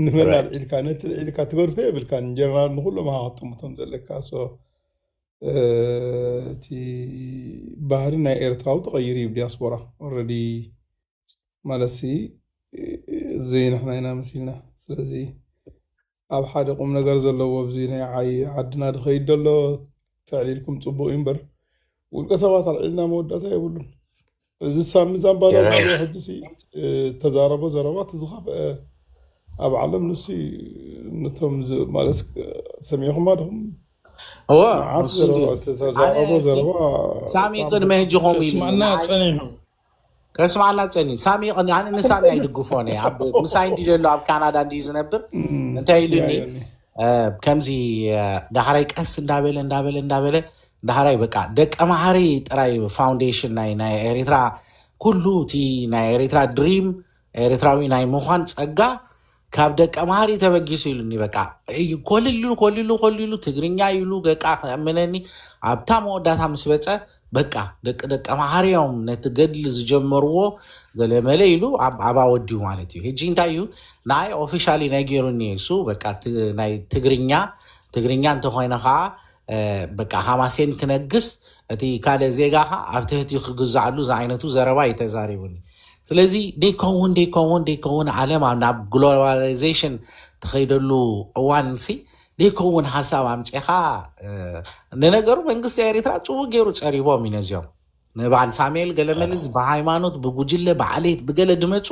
ንመን ኣልዒልካ ነቲ ልዒልካ ትገድፎ የብልካን ጀነራል ንኩሎም ኢኻ ክትጥምቶም ዘለካ ሶ እቲ ባህሪ ናይ ኤርትራዊ ተቐይሩ እዩ ዲያስፖራ ኦልሬዲ ማለት ሲ ዘይንሕና ኢና መሲልና ስለዚ ኣብ ሓደ ቁምነገር ዘለዎ ኣብዚ ናይ ዓይ ዓድና ድኸይድ ደሎ ተዕሊልኩም ጽቡቅ እዩ እምበር ውልቀ ሰባት ኣልዒልና መወዳእታ የብሉን። እዚ ሳሚ ዛምባላ የረ ዝብሎ ሕጂሲ እ፣ ተዛረቦ ዘረባ እቲ ዝኸፍአ ኣብ ዓለም ንሱ እዩ። ነቶም ዝ- ማለት እ፣ ሰሚዕኹማ ድኹም እወ መዓት ንሱ ዘረባ እንድዩ እቲ ኣነ ተዛረቦ ሲ ዘረባ ሳሚ ብጣዕሚ ቅድሚ ሕጂ ከምኡ ኢሉኒ ከስመዐና ንዓይ ጸኒሑ ከስማዓና ጸኒ ሳሚ ይቐኒ ኣነ ንሳሚ ኣይድግፎን እየ ኣብ ምሳይ እንዲ ዘሎ ኣብ ካናዳ እንዲ ዝነብር እንታይ ኢሉኒ ከምዚ ዳሕራይ ቀስ እንዳበለ እንዳበለ እንዳበለ ዳሕራይ በቃ ደቀ መሓሪ ጥራይ ፋውንዴሽን ናይ ናይ ኤሪትራ ኩሉ እቲ ናይ ኤሪትራ ድሪም ኤርትራዊ ናይ ምዃን ጸጋ ካብ ደቀ መሃሪ ተበጊሱ ኢሉኒ በቃ እዩ ኮልሉ ኮልሉ ኮልሉ ትግርኛ ኢሉ በቃ ከእምነኒ ኣብታ መወዳታ ምስ በጸ በቃ ደቂ ደቀ መሃሪ እዮም ነቲ ገድሊ ዝጀመርዎ ገለመለ ኢሉ ኣብ ኣባ ወዲኡ ማለት እዩ ሕጂ እንታይ እዩ ንኣይ ኦፊሻሊ ነጊሩኒ እሱ በቃ ት- ናይ ትግርኛ ትግርኛ እንተኾይነ ከዓ በቃ ሃማሴን ክነግስ እቲ ካልእ ዜጋኻ ኣብ ትህትዩ ክግዛዕሉ ዝዓይነቱ ዘረባ እዩ ተዛሪቡኒ ስለዚ ደይከውን ደይከውን ደይከውን ዓለም ኣብ ናብ ግሎባላይዜሽን ትኸይደሉ እዋን ሲ ደይከውን ሓሳብ ኣምፅኻ ንነገሩ መንግስቲ ኤሪትራ ፅቡቅ ገይሩ ፀሪቦም እዩ ነዚኦም ንባዓል ሳሜኤል ገለመል እዚ ብሃይማኖት ብጉጅለ ብዓሌት ብገለ ድመጹ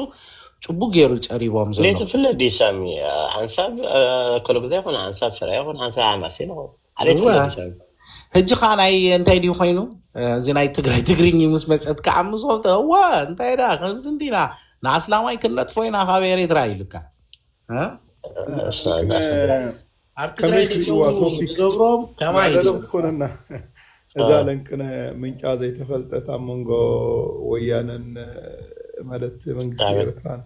ጽቡቅ ጌሩ እዩ ጸሪቦም ዘሎ። ሌቱ ፍለጥ ድዩ ሳሚ ሓንሳብ ኣከለጉዛይ ይኹን ሓንሳብ ሰራይ ይኹን ሓንሳብ ሓማሴን ይኹን ዓሌት እወ ፍለጥ ድዩ ሳሚ ሕጂ ከዓ ናይ እንታይ ድዩ ኮይኑ እዚ ናይ ትግራይ ትግርኝ ምስ መፀት ከዓ ምስኦም ተ- እወ እንታይ ዳ ከምዚ እንዲና ንኣስላማይ ክንነጥፎ ኢና ካብ ኤሬትራ ኢሉካ ኣብ ትግራይ ደጨው ዝገብሮም ከማይ ናደሎም ትኮነና እዛ ለንቅነ ምንጫ ዘይተፈልጠት ኣብ መንጎ ወያነን ማለት መንግስቲ ኤርትራን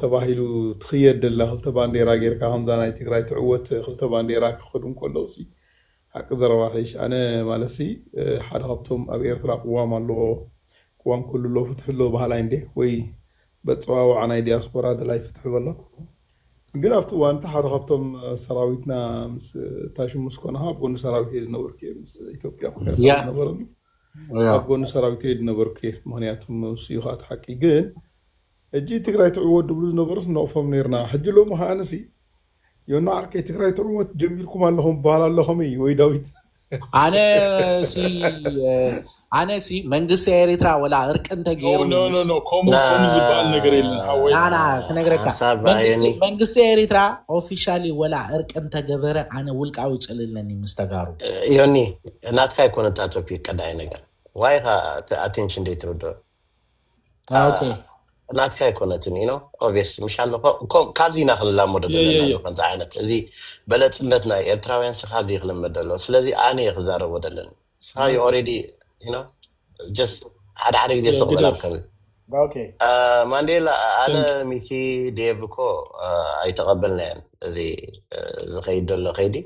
ተባሂሉ ትኽየድ ደላ ክልተ ባንዴራ ጌርካ ከምዛ ናይ ትግራይ ትዕወት ክልተ ባንዴራ ክኸዱ እንከለዉ ሲ ሓቂ ዘረባ ሒሽ ኣነ ማለት ሲ ሓደ ካብቶም ኣብ ኤርትራ ቅዋም ኣለዎ ቅዋም ኩሉ ኣሎ ፍትሒ ኣሎ በሃላይ እንዴ ወይ በጸዋውዓ ናይ ዲያስፖራ ደላይ ፍትሒ በሎ ግን ኣብቲ እዋን እቲ ሓደ ካብቶም ሰራዊትና ምስ ታሹ ምስ ኮንኻ ኣብ ጎኒ ሰራዊት እየ ዝነበርኩ እየ ምስ ኢትዮጵያ ኩነት ያ ዝነበረሉ ያ ኣብ ጎኒ ሰራዊት እየ ዝነበርኩ እየ ምክንያቱ ንሱ እዩ ከዓ እቲ ሓቂ ግን ሕጂ ትግራይ ትዕወት ድብሉ ዝነበሩስ ንነቕፎም ነይርና ሕጂ ሎሚ ከዓንሲ ዮና ዓርከይ ትግራይ ትዕወት ጀሚርኩም ኣለኹም በሃል ኣሎ ከመይ ወይ ዳዊት ኣነ ሲ ኣነ ሲ መንግስቲ ኤሪትራ ወላ እርቂ እንተገይሩ ኖ ኖ ኖ ከምኡ ከምኡ ዝበሃል ነገር የለን ሓወይ ናና ክነግረካ ሓሳብ መንግስቲ ኣየኒ መንግስቲ ኤሪትራ ኦፊሻሊ ወላ እርቂ እንተገበረ ኣነ ውልቃዊ ጽል ኣለኒ ምስ ተጋሩ ዮኒ ናትካ ኣይኮነ እታ ቶፒክ ቀዳይ ነገር ዋይኻ እቲ ኣቴንሽን ደይትርድኦ ኦኬ ናትካ ኣይኮነትን ኢኖ ኦብስ ምሽ ኣሎ ካብዚ ኢና ክንላመዶ የየ ዘለና እዚ የየ ከምዚ ዓይነት እዚ በለፅነት ናይ ኤርትራውያን ሲ ካብዚ ክልመድ ደሎ ስለዚ ኣነ እየ ክዛረቦ ደለኒ ስኻ ዩ ኦኬ ኦሬዲ ኢኖ ጀስ ሓደ ሓደ ግዜ የ ሱቕ በል ኣብ ግደፍ ከምዚ ኦኬ አ፣ ማንዴላ ኣነ ቴንክ ሚኪ ዴቭ እኮ አ፣ ኣይተቐበልናዮን እዚ አ፣ ዝኸይድ ዘሎ ከይዲ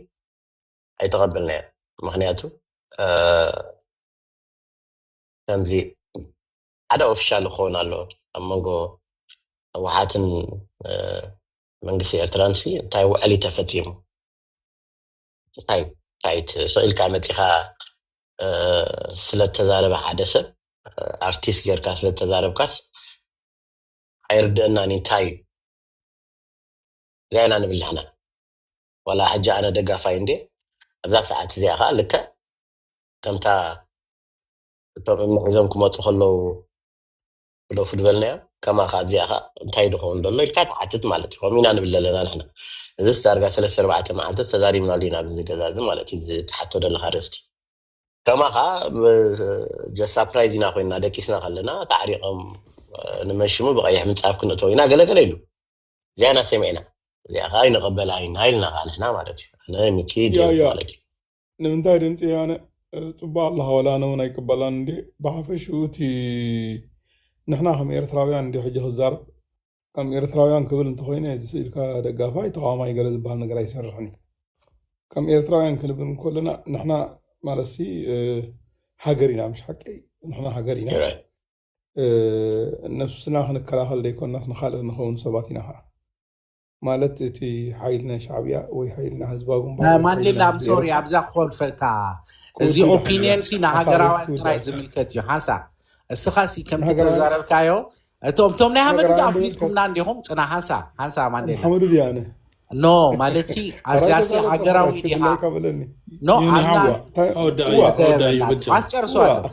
ኣይተቐበልናዮን ምክንያቱ አ፣ ከምዚ ሓደ ኦፊሻል ክኸውን ኣለዎ ኣብ መንጎ ህወሓትን መንግስቲ ኤርትራን ሲ እንታይ ውዕል እዩ ተፈጺሙ እንታይ እንታይ ስቕ ኢልካ መጺኻ ስለ ተዛረበ ሓደ ሰብ ኣርቲስት ጌርካ ስለ ተዛረብካስ ኣይርድአናን እዩ እንታይ እዩ እዚኣ ኢና ንብል ንሕና ዋላ ሕጂ ኣነ ደጋፋይ እንድየ ኣብዛ ሰዓት እዚኣ ከዓ ልክዕ ከምታ ቶሚኖ ሒዞም ክመፁ ከለው ዶፍ ዝበልናዮ ከማካ ኣብዚኣ ከ እንታይ ድኸውን ደሎ ኢልካ ትሓትት ማለት እዩ ከምኡ ኢና ንብል ዘለና ንሕና እዚስ ዳርጋ ሰለስተ ኣርባዕተ መዓልቲ ተዛሪብናሉ ኢና ኣብዚ ገዛ እዚ ማለት እዩ እዚ ትሓቶ ደለካ ርእስቲ ከማካ ጀስት ሳፕራይዝ ኢና ኮይና ደቂስና ከለና ተዓሪቆም ንመሽሙ ብቀይሕ ምንፃፍ ክንእተው ኢና ገለገለ ኢሉ እዚኣ ኢና ሰሚዕና እዚኣ ከዓ ይንቀበላ ኢና ኢልና ከዓ ንሕና ማለት እዩ ኣነ ሚኪ ያ ዴቭ ያ ማለት እዩ ንምንታይ ድምፂ ወያነ ፅቡቅ ኣለኻ ወላ ኣነ እውን ኣይቅበላን እንድየ ብሓፈሽኡ እቲ ንሕና ከም ኤርትራውያን እንድየ ሕጂ ክዛረብ ከም ኤርትራውያን ክብል እንተኾይነ እዚ ስኢልካ ደጋፋይ ተቃዋማይ ገለ ዝብሃል ነገር ኣይሰርሕን እዩ ከም ኤርትራውያን ክንብል እንኮለና ንሕና ማለትሲ ሃገር ኢና ምሽ ሓቂ ንሕና ሃገር ኢና ነብስና ክንከላኸል ዘይኮናስ ንካልእ ንኸውን ሰባት ኢና ከዓ ማለት እቲ ሓይሊ ናይ ሻዕብያ ወይ ሓይሊ ናይ ህዝባዊ ግንባር ወይ ሓይሊ ማንዴላ ናይ ኣም ህዝቢ ሶሪ ኤሮፓ ኣብዛ ክኾልፈልካ እዚ ክወስዱ ይደሓን ኦፒንየን ሲ እዚኣ ሓሳበይ ንሃገራውያን ጥራይ ክትውዳእ እያ ዝምልከት እዩ ሓንሳእ እስኻ ሲ ከምቲ ንሃገራውያን ተዛረብካዮ እቶም እቶም ናይ ሃመዱ ድኣ ሃገራውያን ዶ ኣፍሊጥኩምና ንከ እንዲኹም ጽና ሓንሳ ሓንሳ ኣብ ማንዴላ ሓመዱ ድያ ኣነ ኖ ማለት ሲ ሓራይ ኣብዚኣ ሲ ተዛረብ ተማራሽ ሃገራዊ ዲኻ ክድላይካ በለኒ ኖ ዮኒ ኣብዛ ሓዋ እንታይ ኣወዳኣዮ ኡዋ ኣወዳኣዮ በጃኹም ኣስጨርሶ ኡዋ ኣለኹ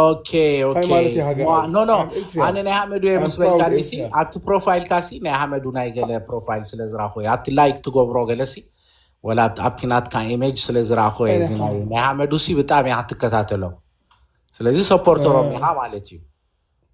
ኦኬ እንታይ ኦኬ ማለት እዩ ሃገር ዋ ኣይብል ኖ ኖ ኣም ኤርትሪያን ኣነ ናይ ሃመዱ እየ ኣም ምስ ፕራውድ በልካኒ ሲ ኤርትሪያን ኣብቲ ፕሮፋይልካ ሲ ናይ ሃመዱ ናይ ገለ ፕሮፋይል ስለ ዝራኹ እየ ኣብቲ ላይክ ትገብሮ ገለ ሲ ወላ ኣብቲ ኣብቲ ናትካ ኢሜጅ ስለ ዝራኹ እየ እዚ ናይ ናይ ሃመዱ ሲ ብጣዕሚ እያ ክትከታተሎ ስለዚ ሰፖርተሮም ኢኻ ማለት እዩ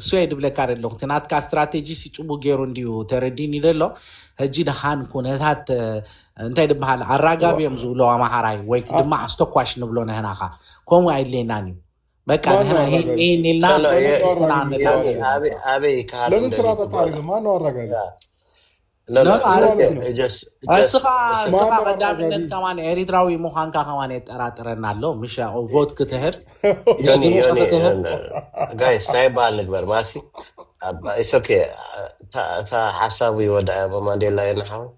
እሱ እየ ድብለካ ደለኹ እቲ ናትካ ስትራቴጂ ሲ ጽቡቅ ጌሩ እንድዩ ተረዲኒ ደሎ ህጂ ድኻን ኩነታት እንታይ ድበሃል ኣራጋቢ እዮም ዝብሉ ኣማሃራይ ወይ ድማ ኣስተኳሽ ንብሎ ንህና ኸኣ ከምኡ ኣይድልየናን እዩ በቃ ማን ነው ንህና ሂን አራጋቢ? ሂን ኢልና ኖ ኖ ማን ነው የእስ ምስትና ኣራጋቢ? ንላዘብ የእስ ኢና ኣበይ ኣበይ ክሃሉ ለምን ስራ ደልዩ በቃ ብሎ ኣሪገ ማን ነው አራጋቢ? لا لا ኖኖ ኖ ኖ ኖ እጀስ እጀስ እስኻ እስኻ ማመር ቀዳምነት ኣራጋቢ ከማን ኤሪትራዊ ምዃንካ ከማን የጠራጥረና ኣሎ ምሻ ቮት ክትህብ ምስ ዮኒ ድምፂ ዮኒ ክትህብ ጋይስ እንታይ በሃል ንግበር ማሲ ኢትስ ኦኬ እታ ሓሳቡ ይወዳእ እሞ ማንዴላ ዮኒ ሓወይ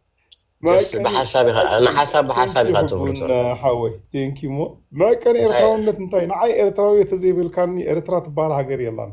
ጀስ መዕቀኒ ብሓሳብ ኢኻ ኣይ ንሓሳብ ብሓሳብ ቴንኪዩ ኢኻ ትብሉ ሕቡን ዘለኹም ሓወይ ቴንኪዩ እሞ መዕቀኒ እንታይ ኤርትራውነት እንታይ ንዓይ ኤርትራዊ ተዘይብልካኒ ኤርትራ ትበሃል ሃገር የላን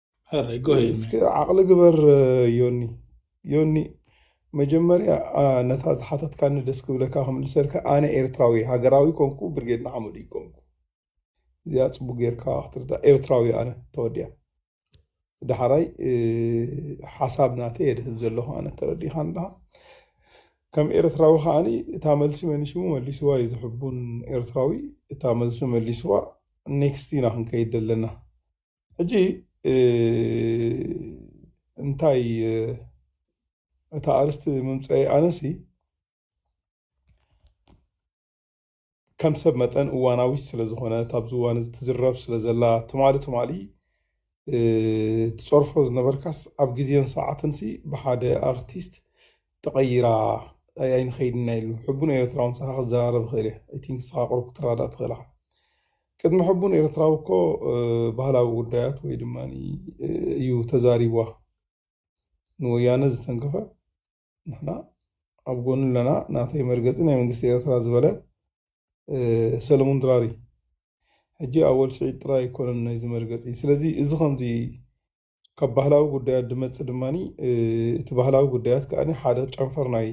እስኪ ዓቕሊ ግበር ዮኒ ዮኒ መጀመርያ ነታ ዝሓተትካኒ ደስ ክብለካ ክምልሰልካ ኣነ ኤርትራዊ ሃገራዊ ኮንኩ ብርጌድ ንሓመዱ ይኮንኩ እዚኣ ፅቡቅ ጌርካ ክትርዳ ኤርትራዊ ኣነ ተወዲያ ዳሕራይ ሓሳብ ናተ የድህብ ዘለኹ ኣነ ተረዲኻ ንዳ ከም ኤርትራዊ ከዓኒ እታ መልሲ መኒሽሙ መሊስዋ እዩ ዝሕቡን ኤርትራዊ እታ መልሱ መሊስዋ ኔክስት ኢና ክንከይድ ዘለና ሕጂ እንታይ እታ ኣርስቲ ምምፀኢ ኣነሲ ከም ሰብ መጠን እዋናዊት ስለ ዝኾነት ኣብዚ እዋን እዚ ትዝረብ ስለ ዘላ ትማሊ ትማሊ ትፀርፎ ዝነበርካስ ኣብ ግዜን ሰዓትንሲ ብሓደ ኣርቲስት ተቐይራ ኣይንኸይድና ኢሉ ሕቡን ኤርትራውን ሰኻ ክዘራረብ ይኽእል እየ ኣይ ቲንክ ንስኻ ቅሩብ ክትረዳእ ትኽእል ኢኻ ቅድሚ ሕቡን ኤርትራዊ እኮ ባህላዊ ጉዳያት ወይ ድማ እዩ ተዛሪቧ ንወያነ ዝተንከፈ ንሕና ኣብ ጎኑ ኣለና ናተይ መርገፂ ናይ መንግስቲ ኤርትራ ዝበለ ሰለሙን ድራሪ ሕጂ ኣወል ስዒድ ጥራይ ኣይኮነን ናይዚ መርገፂ ስለዚ እዚ ከምዚ ካብ ባህላዊ ጉዳያት ድመፅ ድማ እቲ ባህላዊ ጉዳያት ከዓ ሓደ ጨንፈር ናይ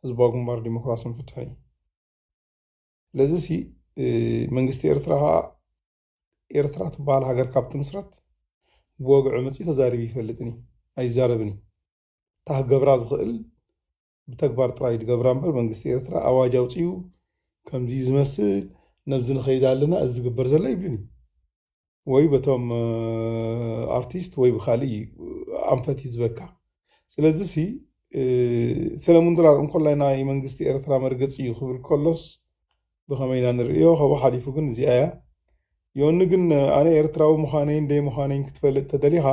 ህዝባዊ ግንባር ዲሞክራሲን ፍትሕን እዩ ለዝሲ መንግስቲ ኤርትራ ከኣ ኤርትራ ትበሃል ሃገር ካብ ትምስረት ብወግዒ መጺኡ ተዛሪቡ ኣይፈልጥን እዩ፣ ኣይዛረብን እዩ። እታ ክገብራ ዝኽእል ብተግባር ጥራይ ድገብራ እምበር መንግስቲ ኤርትራ ኣዋጅ ኣውጺኡ ከምዚ እዩ ዝመስል ነብዚ ንኸይድ ኣለና እዚ ዝግበር ዘሎ ኣይብልን እዩ። ወይ በቶም ኣርቲስት ወይ ብካልእ እዩ ኣንፈት ይዝበካ ስለዚ ሲ ሰለሙን ድራር እንኮላይ ናይ መንግስቲ ኤርትራ መርገፂ እዩ ክብል ከሎስ ብኸመይ ኢና ንርእዮ ከብኡ ሓሊፉ ግን እዚኣ እያ ዮኒ ግን ኣነ ኤርትራዊ ምዃነይን ደይ ምዃነይን ክትፈልጥ ተደሊኻ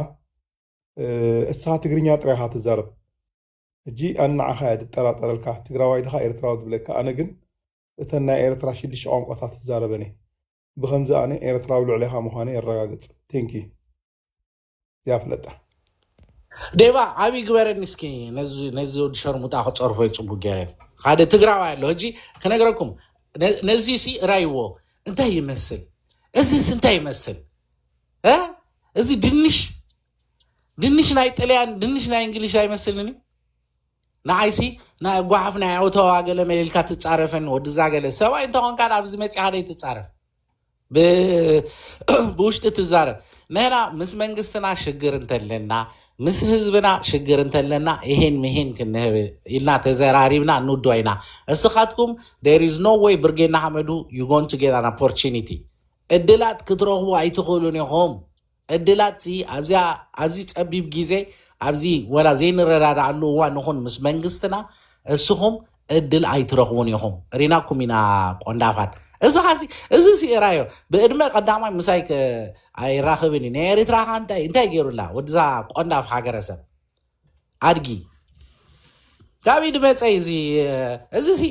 እስኻ ትግርኛ ጥራይ ኢኻ ትዛረብ ሕጂ ኣነ ንዓኻ እያ ትጠራጠረልካ ትግራዋይ ድኻ ኤርትራዊ ትብለካ ኣነ ግን እተን ናይ ኤርትራ ሽዱሽተ ቋንቋታት ትዛረበን እየ ብከምዚ ኣነ ኤረትራዊ ልዕሌካ ምኳነይ የረጋግጽ ቴንኪ እዚኣ ፍለጣ። ዴቫ ዓብይ ግበረኒ እስኪ ነዚ ነዚ ወዲ ሸርሙጣ ክፀርፎ እዩ ፅቡቅ ገይረ ሓደ ትግራዋይ ኣሎ ሕጂ ክነግረኩም ነ- ነዚ ሲ እራይዎ እንታይ ይመስል እዚስ እንታይ ይመስል እ? እዚ ድንሽ ድንሽ ናይ ጥልያን ድንሽ ናይ እንግሊሽ ኣይመስልን እዩ ንዓይሲ ናይ ጓሓፍ ናይ ኣውተዋ ገለ መሊልካ ትጻረፈኒ ወድዛ ገለ ሰብኣይ እንተኾንካ ናብዚ መጺኻ ደይ ትጻረፍ ብውሽጢ ትዛረብ ንሕና ምስ መንግስትና ሽግር እንተለና ምስ ህዝብና ሽግር እንተለና ይሄን ምሄን ክንህብ ኢልና ተዘራሪብና ንውድዋ ኢና እስኻትኩም ዴር ኢዝ ኖ ወይ ብርጌና ሓመዱ ዩ ጎን ቱ ጌት ኣን ኦፖርቹኒቲ እድላት ክትረኽቡ ኣይትኽእሉን ኢኹም ዕድላትሲ ኣብዚኣ ኣብዚ ጸቢብ ጊዜ ኣብዚ ወላ ዘይንረዳዳኣሉ እዋን ንኹን ምስ መንግስትና እስኹም ዕድል ኣይትረኽቡን ኢኹም ሪናኩም ኢና ቆንዳፋት እስኻሲ እዚሲ እራዮ ብእድመ ቀዳማይ ምሳይ ከ ኣይራኽብን እዩ ናይ ኤሪትራ ኸ እንታይ እንታይ ገይሩላ ወድዛ ቆንዳፍ ሃገረሰብ ኣድጊ ካብ ኢድ መጸይ እዚ እዚሲ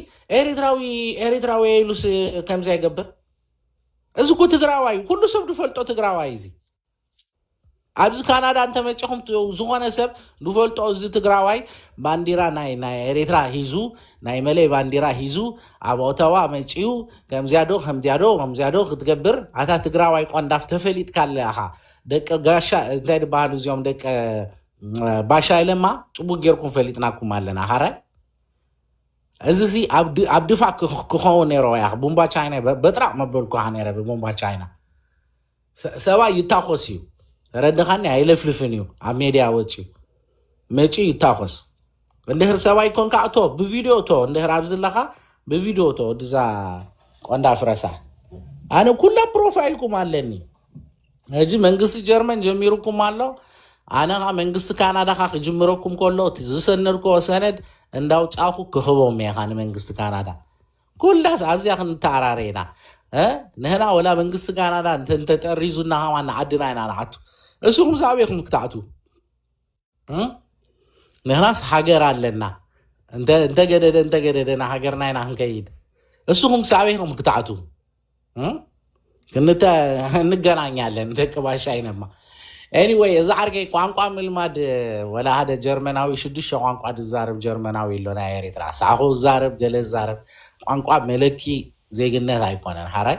ኤሪትራዊ ኤሪትራዊ ኢሉስ ከምዚ ኣይገብር እዚ እኮ ትግራዋይ እዩ፣ ኩሉ ሰብ ዝፈልጦ ትግራዋይ እዩ እዚ ኣብዚ ካናዳ እንተመጪኹም ት- ዝኾነ ሰብ ዝፈልጦ እዚ ትግራዋይ ባንዲራ ናይ ናይ ኤሬትራ ሂዙ ናይ መለይ ባንዲራ ሂዙ ኣብ ኦተዋ መፂኡ ከምዚያዶ ከምዚያዶ ከምዚያዶ ክትገብር ኣታ ትግራዋይ ቆንዳፍ ተፈሊጥካ ኣለኻ ደቂ ጋሻ እንታይ ድበሃሉ እዚኦም ደቂ እ፣ ባሻይ ለማ ፅቡቅ ጌርኩም ፈሊጥናኩም ኣለና ካራይ እዚ ሲ ኣብ ድ- ኣብ ድፋዕ ክኽ- ክኸውን ነይሮ ያኽ ቡምባ ቻይና በ- በጥራቕ መበልኩኻ ነይረ ብቡምባ ቻይና ሰ- ሰብኣይ ይታኾስ እዩ ተረድኻኒ ኣይለፍልፍን እዩ ኣብ ሜድያ ወፅዩ መፅዩ ይታኾስ እንድህር ሰብኣይ ኮንካ እቶ ብቪድዮ እቶ እንድህር ኣብዚ ኣለኻ ብቪድዮ እቶ ወድዛ ቆንዳ ፍረሳ ኣነ ኩላ ፕሮፋይልኩም ኣለኒ ነዚ መንግስቲ ጀርመን ጀሚሩኩም ኣሎ ኣነ ኸ መንግስቲ ካናዳ ኸ ክጅምረኩም ከሎ እቲ ዝሰነድክዎ ሰነድ እንዳውፃኹ ክህቦም እየ ኸ ንመንግስቲ ካናዳ ኩላስ ኣብዚኣ ክንተኣራረ ኢና እ ንህና ወላ መንግስቲ ካናዳ እንተ- እንተጠሪዙና ኸማ ንዓድና ኢና ንዓቱ እስኹም ሳብ ኢኹም ክትኣትዉ ንሕናስ ሃገር ኣለና እንተገደደ እንተገደደ ና ሃገርና ኢና ክንከይድ እስኹም ክሳዕበይ ኢኹም ክትዓቱ ክንተ እንገናኛለን ደቂ ባሻ ይነማ ኤኒወይ እዚ ዓርከይ ቋንቋ ምልማድ ወላ ሓደ ጀርመናዊ ሽዱሽተ ቋንቋ ዝዛረብ ጀርመናዊ ኣሎ ናይ ኤርትራ ሳዕኹ ዛረብ ገለ ዛረብ ቋንቋ መለኪ ዜግነት ኣይኮነን ሓራይ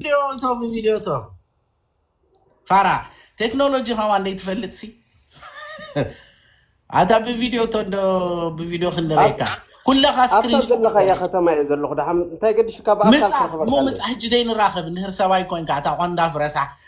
ቪድዮ እቶ ብቪድዮ እቶ ፋራ ቴክኖሎጂ ከማን ዘይትፈልጥ ሲ ኣታ ብቪድዮ እቶ እንዶ ብቪድዮ ኣብ ክንርእየካ ኩለኻ ኣብታ ስክሪንሾት ዘለኻያ ትገርየካ ከተማ እየ ዘለኹ ደሓ እንታይ ገድሽካ ብኣካል ምፃ እሞ ክረኽበካ ኣለኒ ምፃ ሕጂ ደይ ንራኸብ ንህር ሰባይ ኮንካ እታ ቆንዳፍ ረሳሕ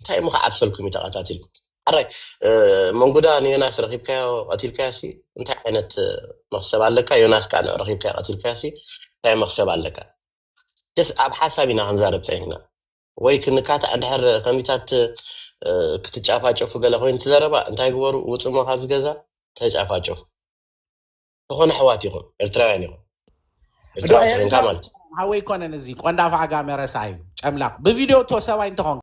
እንታይ እሞ ክዓብሰልኩም እዩ ተቀታቲልኩም ሕራይ መንጉዳ ንዮናስ ረኪብካዮ ቀቲልካዮሲ እንታይ ዓይነት መክሰብ ኣለካ ዮናስ ከኣ ንዑ ረኪብካዮ ቀቲልካዮሲ እንታይ መክሰብ ኣለካ ጀስ ኣብ ሓሳብ ኢና ክንዛረብ ጸኒሕና ወይ ክንካታዕ እንድሕር ከሚታት ክትጫፋጨፉ ገለ ኮይኑ ትዘረባ እንታይ ግበሩ ውጽሞ ካብዚ ገዛ ተጫፋጨፉ ዝኾነ ኣሕዋት ኢኹም ኤርትራውያን ኢኹም ዶ ኤርትራዊ ተኮንካ ኤርትራዊ ማለት እዩ ሓወይ ኮነን እዚ ቆንዳፍ ዓጋመ ረሳዩ ጨምላቅ ብቪድዮ እቶ ሰባይ እንተኾንካ